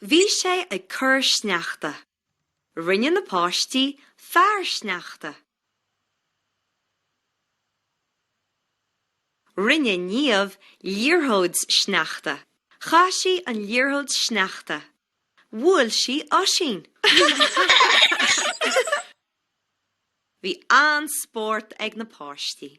Bhí sé ag cur sneachta. Rinne na páistí fear sneachta. Rinne Niamh liathróid sneachta. Chaith sí an liathróid sneachta. Bhuail sí Oisín. Bhí an-spórt ag na páistí.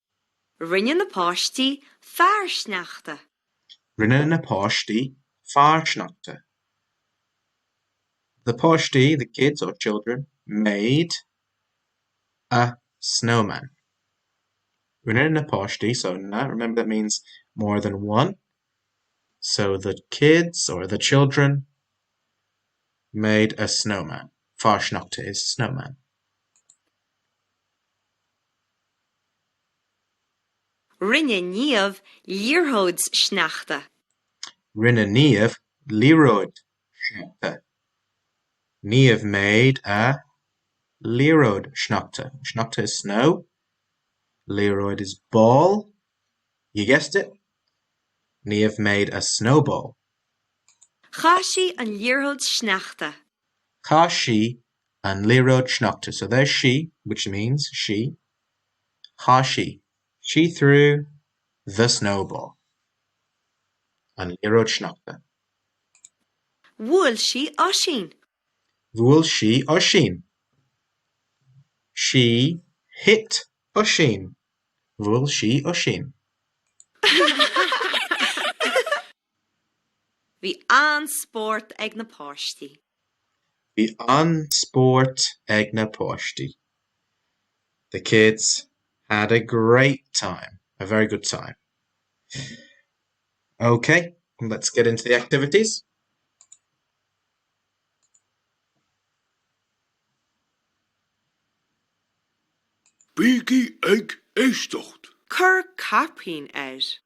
Rinne na páistí fear sneachta. Rinne na páistí fear sneachta. The páistí, the kids or children, made a snowman. Rinne na páistí, so na, remember that means more than one. So the kids or the children made a snowman. Fear sneachta is snowman. Rinne Niamh liathróid sneachta. Rinne Niamh liathróid sneachta. Niamh made a liathróid sneachta. Sneachta is snow. Liathróid is ball. You guessed it! Niamh made a snowball. Chaith sí an liathróid sneachta. Chaith sí an liathróid sneachta so there's sí, which means she, chaith sí she threw the snowball an liathróid sneachta. Bhuail sí Oisín. Bhuail sí Oisín. She hit Oisín. Bhuail sí Oisín. Bhí an-spórt ag na páistí. Bhí an-spórt ag na páistí. The kids had a great time, a very good time. OK, let's get into the activities. Bígí ag éisteacht. Cuir caipín air.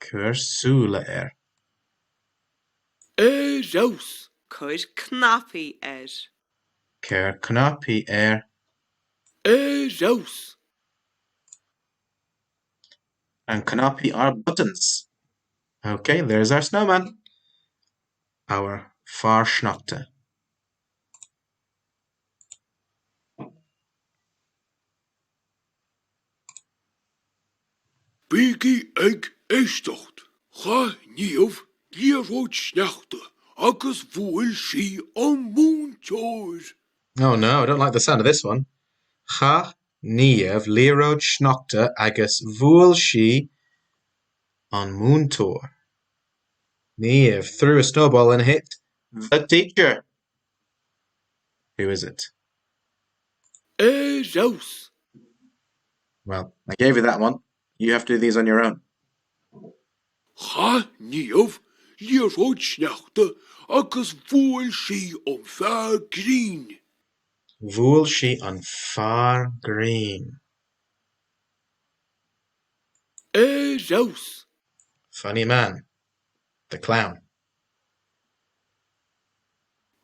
Cuir súile air. Ar fheabhas! Cuir cnaipí air. Cuir cnaipí air. Ar fheabhas! And cnaipí are buttons. OK, there's our snowman. Our fear sneachta. Bígí ag éisteacht! Chaith Niamh liathróid sneachta agus bhuail sí an múinteoir. Oh no, I don't like the sound of this one! Chaith Niamh liathróid sneachta agus bhuail sí an múinteoir. Niamh threw a snowball and hit the teacher. Who is it? Ar fheabhas! Well, I gave you that one. You have to do these on your own. Chaith Niamh liathróid sneachta agus bhuail sí an fear grinn. Bhuail sí an fear grinn. Ar fheabhas! Funny man. The clown.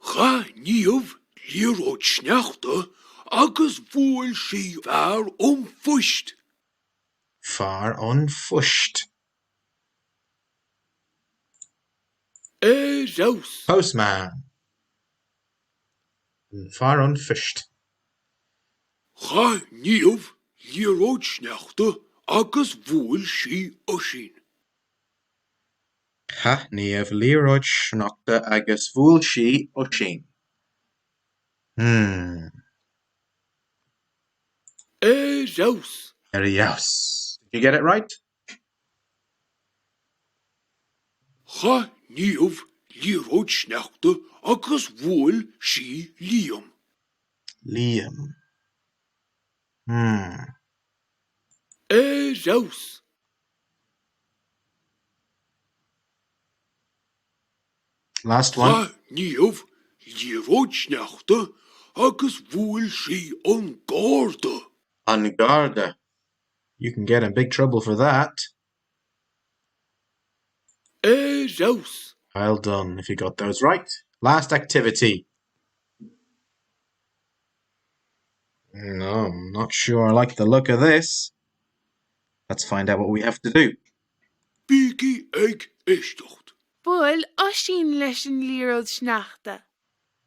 Chaith Niamh liathróid sneachta agus bhuail sí fear an phoist. fear an phoist. ar fheabhas! Postman! fear an phoist. Chaith Niamh liathróid sneachta agus bhuail sí Oisín. Chaith Niamh liathróid sneachta agus bhuail sí Oisín. Hmm. Ar fheabhas! Ar fheabhas! Did you get it right? Chaith Niamh liathróid sneachta agus bhuail sí Liam. Liam. Hmm. Ar fheabhas! Last one. Ghlac Niamh liathróid sneachta agus bhuail sí an garda. an garda. You can get in big trouble for that. Ar fheabhas! Well done if you got those right. Last activity. No, I'm not sure I like the look of this. Let's find out what we have to do! Bígí ag éisteacht! Buail Oisín leis an liathróid sneachta.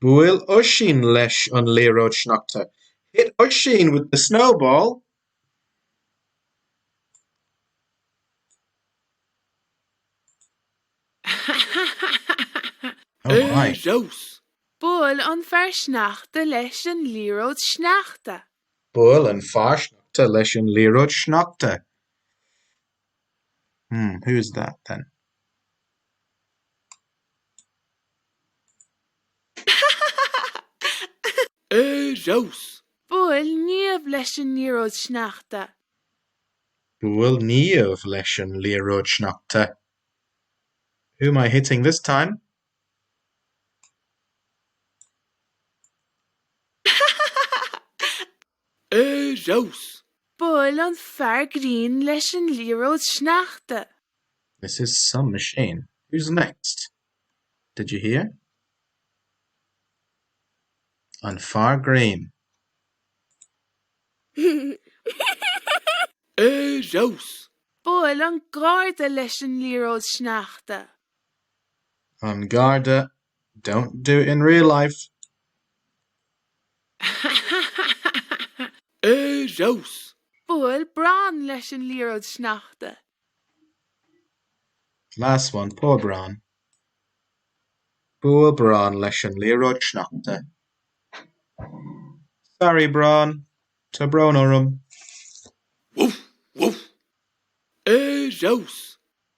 Buail Oisín leis an liathróid sneachta. Hit Oisín with the snowball! Ar fheabhas! Buail an fear sneachta leis an liathróid sneachta. Buail an fear sneachta leis an liathróid sneachta. Hmm, who is that then? Ar fheabhas! Buail Niamh leis an liathróid sneachta. Buail Niamh leis an liathróid sneachta. Who am I hitting this time? ha ha ha! Ar fheabhas! Buail an fear grinn leis an liathróid sneachta. This is some machine. Who's next? Did you hear? An fear grinn. Ar fheabhas! Buail an garda leis an liathróid sneachta. An Garda don't do it in real life! Ar fheabhas! Bhuail Bran leis an liathróid sneachta. Last one, poor Bran. Bhuail Bran leis an liathróid sneachta. Sorry, Bran. Tá brón orm. Woof! Woof! Ar fheabhas!